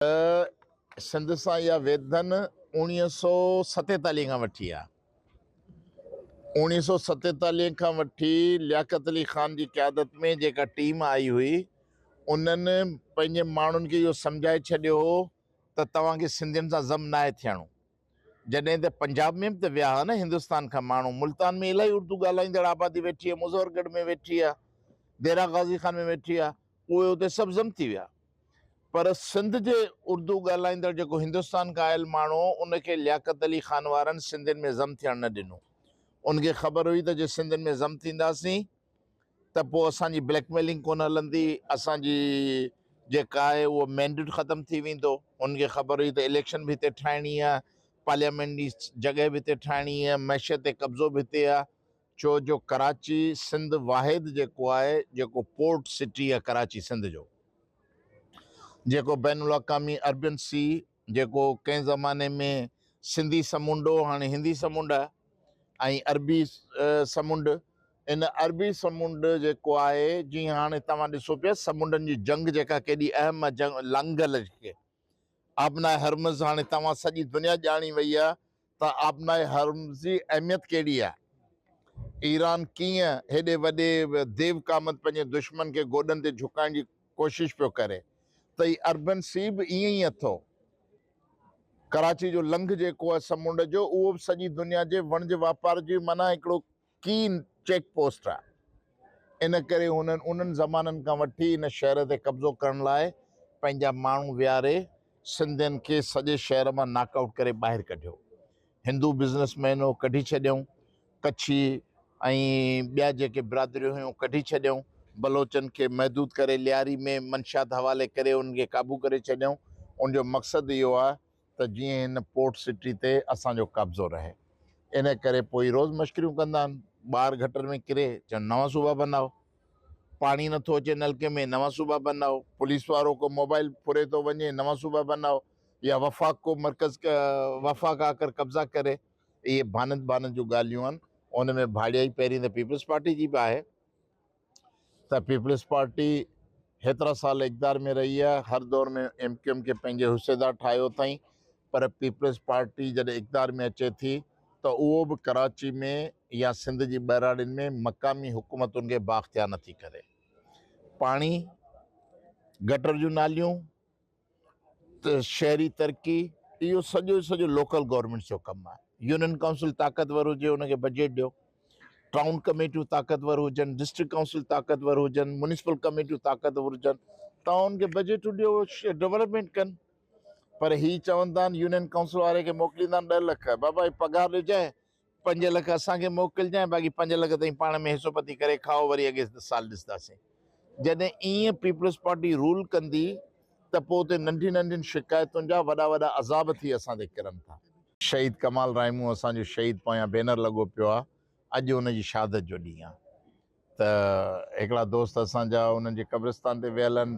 ته سنڌ سان اها ويڌن اوڻيهه سؤ ستيتاليهه کان وٺي آهي. اوڻيهه سؤ ستيتاليهه کان وٺي لياقت علي خان جي قيادت ۾ جيڪا ٽيم آئي هئي انهن پنهنجي ماڻهن کي اهو سمجهائي ڇڏيو هو ته توهان کي سنڌين سان ضم ناهي ٿيڻو. جڏهن ته پنجاب ۾ به ته ويا ها نه هندستان کان ماڻهو، ملتان ۾ الائي اردو ڳالهائيندڙ آبادي ويٺي آهي، مظهر ڳڙهه ۾ ويٺي آهي، ديرا غازي خان ۾ ويٺي آهي، اهي اتي سڀ ضم ٿي ويا، پر سنڌ جي اردو ڳالهائيندڙ جيڪو هندستان کان آيل ماڻهو هو ان کي لياقت علي خان وارن سنڌين ۾ ضم ٿيڻ نه ڏنو، ان کي خبر هئي ته جي سنڌين ۾ ضم ٿينداسين، ته پوء اسان جي بليڪ ميلنگ ڪونه هلندي، اسان جي جيڪا آهي اهو مينڊيٽ ختم ٿي ويندو، هن کي خبر هئي ته اليڪشن به هتي ٺاهڻي آهي، پارليامينٽ جي جڳهه به هتي ٺاهڻي آهي، معشيت تي قبضو به هتي آهي، ڇو جو ڪراچي سنڌ واحد جيڪو آهي جيڪو پورٽ سٽي آهي ڪراچي سنڌ جو جيڪو بين الاقامي اربين سي. جيڪو ڪنهن زماني ۾ سنڌي سمنڊ هو، هاڻي هندي سمنڊ آهي ۽ عربي سمنڊ. ان عربي سمنڊ جيڪو آهي، جيئن هاڻي توهان ڏسو پيا سمنڊن جي جنگ جيڪا ڪيڏي اهم آهي جنگ لنگل جيڪي آبناء هرمز هاڻي توهان سڄي دنيا ڄاڻي وئي آهي ته آبناء هرمز جي اهميت ڪهڙي آهي؟ ايران ڪيئن هيڏي وڏي ديو قامت پنهنجي دشمن کي گوڏن تي جهڪائڻ جي ڪوشش پيو ڪري ته هي اربن سي به ائين ئي اٿو. ڪراچي جو لنگهه جيڪو آهي سمنڊ جو اهو به سڄي دنيا جي وڻج واپار جي معنيٰ هڪڙو ڪين چيڪ پوسٽ آهي، ان ڪري هنن انهن زمانن کان وٺي ان شهر تي قبضو ڪرڻ لاء پنهنجا ماڻهو ويهاري سنڌين کي سڄي شهر مان ناڪ آئوٽ ڪري ٻاهر ڪڍيو. هندو بزنس مين هو ڪڍي ڇڏيائون، ڪڇي ۽ ٻيا جيڪي برادريون هيون ڪڍي ڇڏيائون، بلوچن کي محدود ڪري لياري ۾ منشيات حوالي ڪري انهن کي قابو ڪري ڇڏيائون، ان جو مقصد اهو آهي ته جيئن هن پورٽ سٽي تي اسان جو قبضو رهي. ان ڪري پوئي روز مشڪريون ڪندا آهن. ٻار گٽر ۾ ڪري، چون نوان صوبا بنائو. پاڻي نه ٿو اچي نلڪي ۾، نوان صوبا بنائو. پوليس وارو ڪو موبائل ڦري ٿو وڃي، نوان صوبا بنائو. يا وفاق ڪو مرڪز وفاق آ ڪر قبضا ڪري. اهي ڀانت ڀانت جون ڳالهيون آهن. ان ۾ ڀاڙيائي پهرين ته پيپلز پارٽي جي به آهي. ته پيپلز پارٽي هيترا سال اقدار ۾ رهي آهي هر دور ۾ ايم ڪيو ايم کي پنهنجي حصيدار ٺاهيو اٿائين پر پيپلز پارٽي جڏهن اقدار ۾ اچي ٿي ته اهو به ڪراچي ۾ يا سنڌ جي ٻهراڙين ۾ مقامي حڪومتن کي بااختيار نٿي ڪري پاڻي گٽر جون ناليون شهري ترقي اهو سڄو جو سڄو لوڪل گورنمنٽس جو ڪم آهي يونين ڪائونسل طاقتور هجي ان کي بجيٽ ڏيو ٽائون ڪميٽيون طاقتور هجن ڊسٽرڪٽ ڪائونسل طاقتور هجن مونسپل ڪميٽيون طاقتور هجن ٽائون کي بجيٽون ڏيو ڊيولپمنٽ ڪن پر هي چون ٿا يونين ڪائونسل واري کي موڪليندا آهن ڏهه لک بابا هي پگهار ڏجانء پنج لک اسان کي موڪلجانء باقي پنج لک تائين پاڻ ۾ حصو پتي ڪري کائو وري اڳي سال ڏسنداسين جڏهن ايئن پيپلز پارٽي رول ڪندي ته پوء اتي ننڍين ننڍين شڪايتن جا وڏا وڏا عذاب ٿي اسان تي ڪرن ٿا. شهيد ڪمال رائي مون اسان جو شهيد پويان بينر لڳو پيو آهي اڄ ان جي شهادت جو ڏينهن آهي. ته هڪڙا دوست اسان جا انهن جي قبرستان تي ويل هن.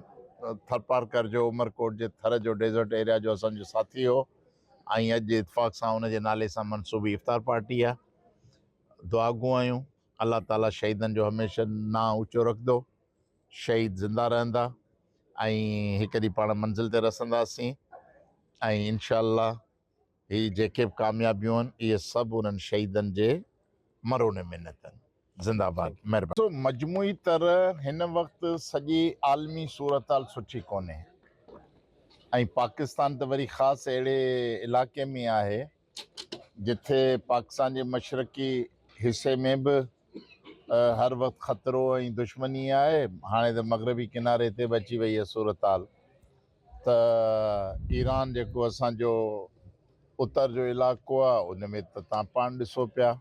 ٿرپارڪر جو عمرڪوٽ جي ٿر جو ڊيزرٽ ايريا جو اسان جو ساٿي هو ۽ اڄ اتفاق سان ان جي نالي سان منسوبي افطار پارٽي آهي. دعا گو آهيون الله تعالي شهيدن جو هميشه نانء اوچو رکندو. شهيد زنده رهندا ۽ هڪ ڏينهن پاڻ منزل تي رسنداسين ۽ انشاء الله هي جيڪي به ڪاميابيون آهن اهي سڀ انهن شهيدن جي مرهون منت آهن. زنده باد مهرباني. سو مجموعي طرح هن وقت سڄي عالمي صورتحال سٺي ڪونهي ۽ پاڪستان ته وري خاص اهڙي علائقي ۾ آهي جٿي پاڪستان جي مشرقي حصي ۾ به هر وقت خطرو ۽ دشمني آهي هاڻي ته مغربي ڪناري تي به اچي وئي اها صورتحال ته ايران جيڪو اسان جو اتر جو علائقو آ ان ۾ ته تان پاڻ ڏسو پيا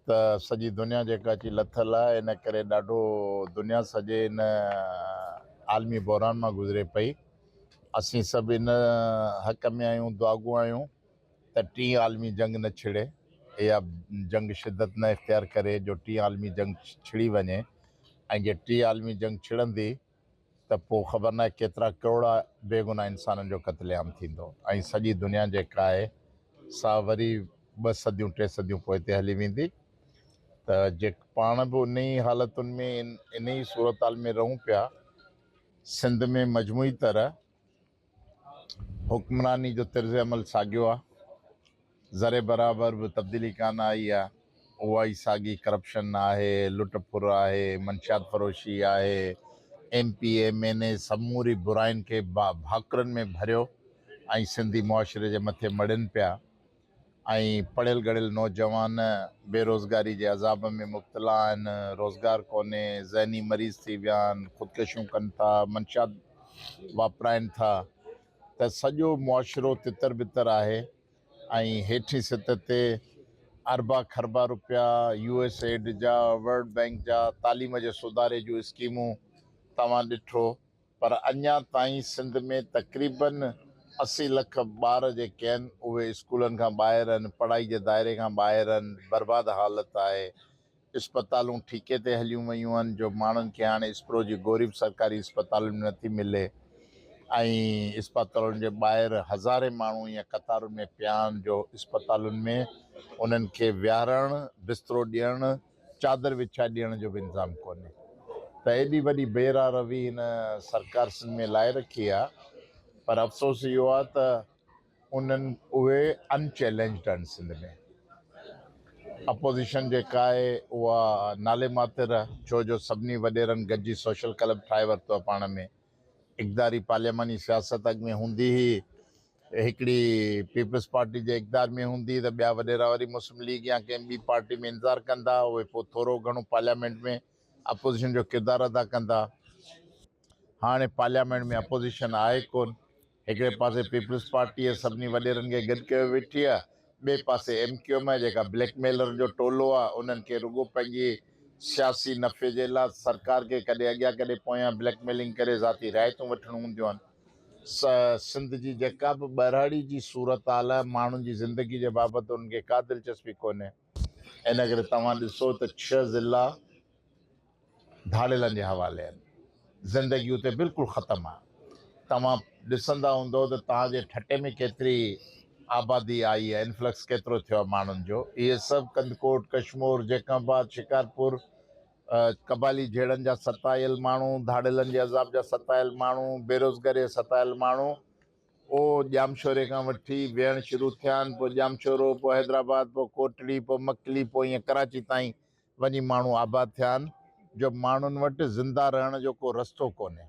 ته سڄي دنيا جيڪا اچي لٿل آ ان ڪري ڏاڍو دنيا سڄي ان عالمي بحران مان گذري پئي اسين سڀ ان حق ۾ آهيون دعاگو آهيون ته ٽين عالمي جنگ نه ڇڙي اها جنگ شدت نه اختيار ڪري جو ٽين عالمي جنگ ڇڙي وڃي ۽ جي ٽين عالمي جنگ ڇڙندي ته پوء خبر ناهي ڪيترا ڪروڙا بيگناهه انسانن جو قتل عام ٿيندو ۽ سڄي دنيا جيڪا آهي سا وري ٻه صديون ٽي صديون پوئتي هلي ويندي ته جي پاڻ به انهي حالتن ۾ انهي صورتحال ۾ رهون پيا سنڌ ۾ مجموعي طرح حڪمراني جو طرز عمل ساڳيو آ ذري برابر به تبديلي ڪانه آئي آ اها ئي ساڳي ڪرپشن آهي لٽ ڦر آهي منشيات فروشي آهي M P M N A سموري برائين کي ڀاڪرن ۾ ڀريو ۽ سنڌي معاشري جي مٿي مڙين پيا ۽ پڙهيل ڳڙهيل نوجوان بيروزگاري جي عذاب ۾ مبتلا آهن، روزگار ڪونهي، ذهني مريض ٿي ويا آهن، خودڪشيون ڪن ٿا، منشيات واپرائن ٿا ته سڄو معاشرو تتر بتر آهي ۽ هيٺين سطح تي اربا کربا روپيا يو ايس ايڊ جا، ورلڊ بئنڪ جا، تعليم جي سڌاري جون اسڪيمون توهان ڏٺو. پر اڃا تائين سنڌ ۾ تقريباً اسي لک ٻار جيڪي آهن اهي اسڪولن کان ٻاهر آهن، پڙهائي جي دائري کان ٻاهر آهن، برباد حالت آهي، اسپتالون ٺيڪي تي هليون ويون آهن جو ماڻهن کي هاڻي اسپرو جي گوري به سرڪاري اسپتالن ۾ نٿي ملي ۽ اسپتالن جي ٻاهر هزارين ماڻهو ايئن قطارن ۾ پيا آهن جو اسپتالن ۾ انهن کي ويهارڻ، بسترو ڏيڻ، چادر وڇائي ڏيڻ جو به انتظام ڪونهي ته ايڏي وڏي بي راهه روي هن سرڪار سنڌ ۾ لائي رکي آ پر افسوس اهو آ ته انهن اهي ان چئلينجڊ آهن سنڌ ۾ اپوزيشن جيڪا آهي اها نالي ماتر ڇو جو سڀني وڏيرن گڏجي سوشل ڪلب ٺاهي ورتو آ پاڻ ۾ اقتداري پارلياماني سياست اڳ ۾ هوندي هئي، هڪڙي پيپلز پارٽي جي اقتدار ۾ هوندي ته ٻيا وڏيرا وري مسلم ليگ يا ڪنهن ٻي پارٽي ۾ انتظار ڪندا، اهي پوء ٿورو گهڻو پارليامينٽ ۾ اپوزيشن جو ڪردار ادا ڪندا. هاڻي پارليامينٽ ۾ اپوزيشن آهي ڪونه. هڪڙي پاسي پيپلز پارٽيء سڀني وڏيرن کي گڏ ڪيو ويٺي آهي، ٻئي پاسي ايم ڪيو ايم آهي جيڪا بليڪ ميلرن جو ٽولو آهي، انهن کي رڳو پنهنجي سياسي نفعي جي لا سرڪار کي ڪڏهن اڳيان ڪڏهن پويان بليڪ ميلنگ ڪري ذاتي رعايتون وٺڻيون هونديون آهن. سنڌ جي جيڪا به ٻهراڙي جي صورتحال آهي، ماڻهن جي زندگي جي بابت انهن کي ڪا دلچسپي ڪونهي، ان ڪري توهان ڏسو ته ڇهه ضلعا، ڌاڙيلن جي حوالي آهن. زندگي اتي بلڪل ختم آهي. توهان ڏسندا هوندؤ ته توهان جي ٺٽي ۾ ڪيتري آبادي آئي آهي، انفلڪس ڪيترو ٿيو آهي ماڻهن جو. اهي سڀ ڪنڌڪوٽ، ڪشمور، جيڪب آباد، شڪارپور، قبالي جهيڙن جا ستايل ماڻهو، ڌاڙيلن جي عذاب جا ستايل ماڻهو، بيروزگاريء جا ستايل ماڻهو او ڄامشوري کان وٺي ويهڻ شروع ٿيا آهن، پوء ڄامشورو، پوء حيدرآباد، پوء ڪوٽڙي، پوء مڪلي، پوء ائين ڪراچي تائين وڃي ماڻهو آباد ٿيا آهن جو ماڻهن وٽ زنده رهڻ جو ڪو رستو ڪونهي.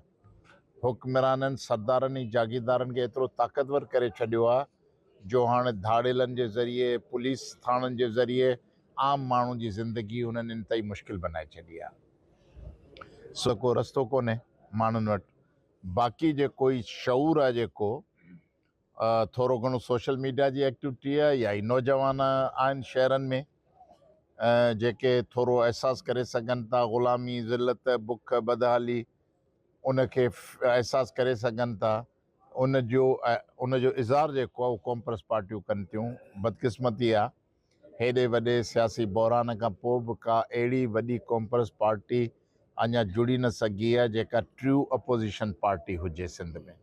حڪمرانن، سردارن ۽ جاگيردارن کي ايترو طاقتور ڪري ڇڏيو آهي جو هاڻي ڌاڙيلن جي ذريعي، پوليس ٿاڻن جي ذريعي عام ماڻهو جي زندگي هنن انتهائي مشڪل بنائي ڇڏي آهي. سو ڪو رستو ڪونهي ماڻهن وٽ. باقي جيڪو هي شعور آهي جيڪو. ٿورو گهڻو سوشل ميڊيا جي ايڪٽيوٽيء يا ئي نوجوان آهن شهرن ۾ جيڪي ٿورو احساس ڪري سگهن ٿا غلامي، ذلت، بک، بدحالي ان کي احساس ڪري سگهن ٿا ان جو ان جو اظهار جيڪو آهي اهو قومپرست پارٽيون ڪن ٿيون بدقسمتي آهي. هيڏي وڏي سياسي بحران کان پوء به ڪا اهڙي وڏي قومپرست پارٽي اڃا جڙي نه سگهي آهي جيڪا ٽريو اپوزيشن پارٽي هجي سنڌ ۾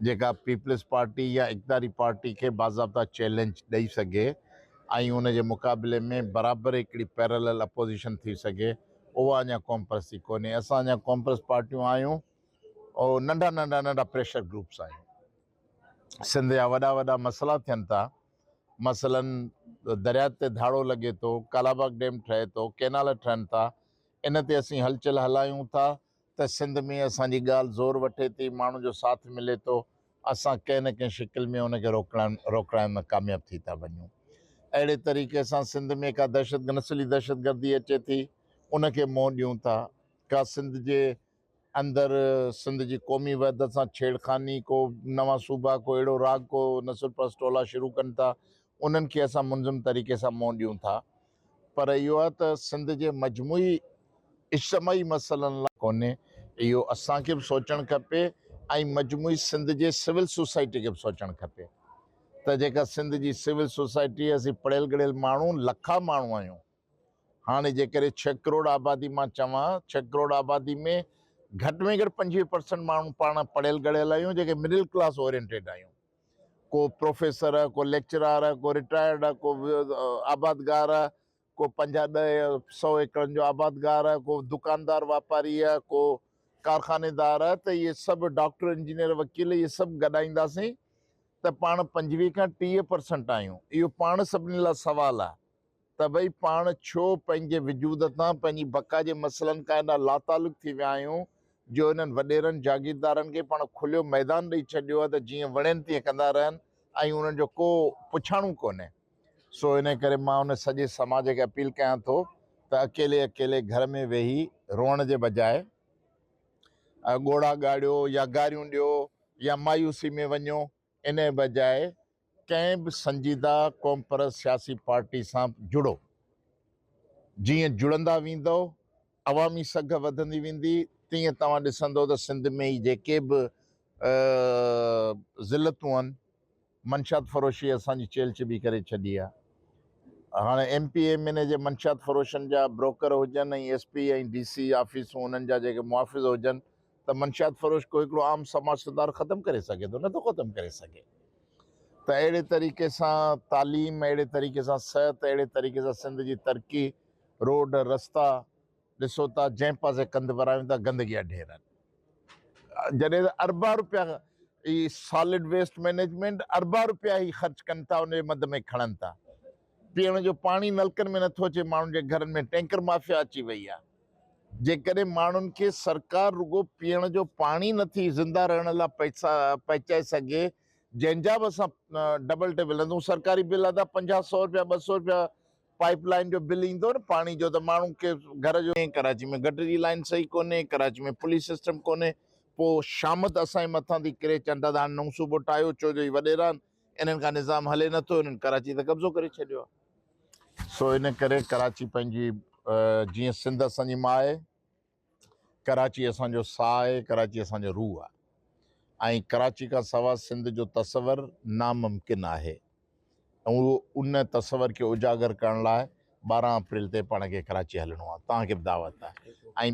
جيڪا پيپلز پارٽي يا اقتداري پارٽي کي باضابطا چئلينج ڏئي سگهي ۽ ان جي مقابلي ۾ برابر هڪڙي پيرلل اپوزيشن ٿي سگهي اها اڃا قومپرستي ڪونهي اسان اڃا قومپرست پارٽيون آهيون او ننڍا ننڍا ننڍا پريشر گروپس آهيون سنڌ جا وڏا وڏا مسئلا ٿين ٿا مثلاً درياء تي ڌاڙو لڳي ٿو، ڪالاباغ ڊيم ٺهي ٿو، ڪينال ٺهن ٿا، ان تي اسين هلچل هلايون ٿا ته سنڌ ۾ اسان جي ڳالهه زور وٺي ٿي، ماڻهن جو ساٿ ملي ٿو، اسان ڪنهن نه ڪنهن شڪل ۾ ان کي روڪڻ ۾ ڪامياب ٿي ٿا وڃون. اهڙي طريقي سان سنڌ ۾ ڪا دهشت نسلي دهشتگردي اچي ٿي، ان کي منهن ڏيون ٿا، ڪا سنڌ جي اندر سنڌ جي قومي وحدت سان ڇيڙخاني ڪو نوان صوبا ڪو اهڙو راڳ ڪو نسل پرست ٽولا شروع ڪن ٿا انهن کي اسان منظم طريقي سان منهن ڏيون ٿا پر اهو آهي ته سنڌ جي مجموعي اجتماعي مسئلن لاء ڪونهي اهو اسان کي به سوچڻ کپي ۽ مجموعي سنڌ جي سول سوسائٽي کي به سوچڻ کپي ته جيڪا سنڌ جي سول سوسائٽي اسين پڙهيل ڳڙهيل ماڻهو لکا ماڻهو آهيون هاڻي جيڪڏهن ڇهه ڪروڙ آبادي مان چوان ڇهه ڪروڙ آبادي ۾ گهٽ ۾ گهٽ پنجويهه پرسنٽ ماڻهو پاڻ پڙهيل ڳڙهيل آهيون جيڪي مڊل ڪلاس اورينٽيڊ آهيون ڪو پروفيسر ڪو ليڪچرار ڪو رٽائرڊ ڪو آبادگار ڪو پنجاهه ڏهه يا سؤ ايڪڙن جو آبادگار ڪو دڪاندار واپاري ڪو ڪارخاني دار ته اهي سڀ ڊاڪٽر انجنيئر وڪيل اهي سڀ گڏائينداسين ته پاڻ پنجويهه کان ٽيهه پرسنٽ آهيون اهو پاڻ سڀني لاء سوال آهي طبعي پاڻ ڇو پنهنجي وجود تان پنهنجي بقا جي مسئلن کان ايڏا لاتعلق ٿي ويا آهيون جو انهن وڏيرن جاگيردارن کي پاڻ کليو ميدان ڏئي ڇڏيو آهي ته جيئن وڻين تيئن ڪندا رهن ۽ انهن جو ڪو پڇاڻو ڪونهي. سو انهي ڪري مان ان سڄي سماج کي اپيل ڪيان ٿو ته اڪيلي اڪيلي گهر ۾ ويهي روئڻ جي بجاء ڳوڙها ڳاڙيو يا گاريون ڏيو يا مايوسي ۾ وڃو انهيء بجاء ڪنهن به سنجيده قومپرست سياسي پارٽي سان جڙو. جيئن جڙندا ويندؤ، عوامي سگهه وڌندي ويندي، تيئن توهان ڏسندؤ ته سنڌ ۾ هي جيڪي به ذلتون آهن، منشيات فروشيء اسان جي چيلهه چٻي ڪري ڇڏي آهي. هاڻ M P M N A جي منشيات فروشن جا بروڪر هجن ۽ ايس پي ۽ ڊي سي آفيسون انهن جا جيڪي محافظ هجن، ته منشيات فروش ڪو هڪڙو عام سماج ستار ختم ڪري سگهي ٿو نه ٿو ختم ڪري سگهي ته اهڙي طريقي سان تعليم اهڙي طريقي سان صحت اهڙي طريقي سان سنڌ جي ترقي روڊ رستا ڏسو ٿا جنهن پاسي ڪنڌ ورايون ٿا گندگي جا ڍير آهن جڏهن ته اربا روپيا هي سالڊ ويسٽ مئنيجمينٽ اربا روپيا هي خرچ ڪن ٿا ان جي مد ۾ کڻن ٿا پيئڻ جو پاڻي نلڪن ۾ نٿو اچي، ماڻهن جي گهرن ۾ ٽينڪر مافيا اچي وئي آهي، جيڪڏهن ماڻهن کي سرڪار رڳو پيئڻ جو پاڻي نٿي زنده رهڻ لا پئسا پهچائي سگهي جنهن جا به اسان ڊبل ٽي ولندون سرڪاري بل ادا پنجاهه سئو رپيا ٻه سئو رپيا پائيپ لائين جو بل ايندو نه پاڻي جو ته ماڻهن کي گهر جو ڪراچي ۾ گٽر جي لائين صحيح ڪونهي ڪراچي ۾ پوليس سسٽم ڪونهي پوء شامت اسان جي مٿان ٿي ڪري چنڊ ادا هاڻي نئون صوبو ٺاهيو ڇو جو هي وڏيران انهن کان نظام هلي نه ٿو، انهن ڪراچي تي قبضو ڪري ڇڏيو آهي. سو ان ڪري ڪراچي پنهنجي جيئن سنڌ اسان جي ماء آهي، ڪراچي اسان جو ساهه آهي، ڪراچي اسان جو روح آهي ۽ ڪراچي کان سوا سنڌ جو تصور ناممڪن آهي ۽ ان تصور کي اجاگر ڪرڻ لاء ٻارهن اپريل تي پاڻ کي ڪراچي هلڻو آهي، توهان کي به دعوت آهي ۽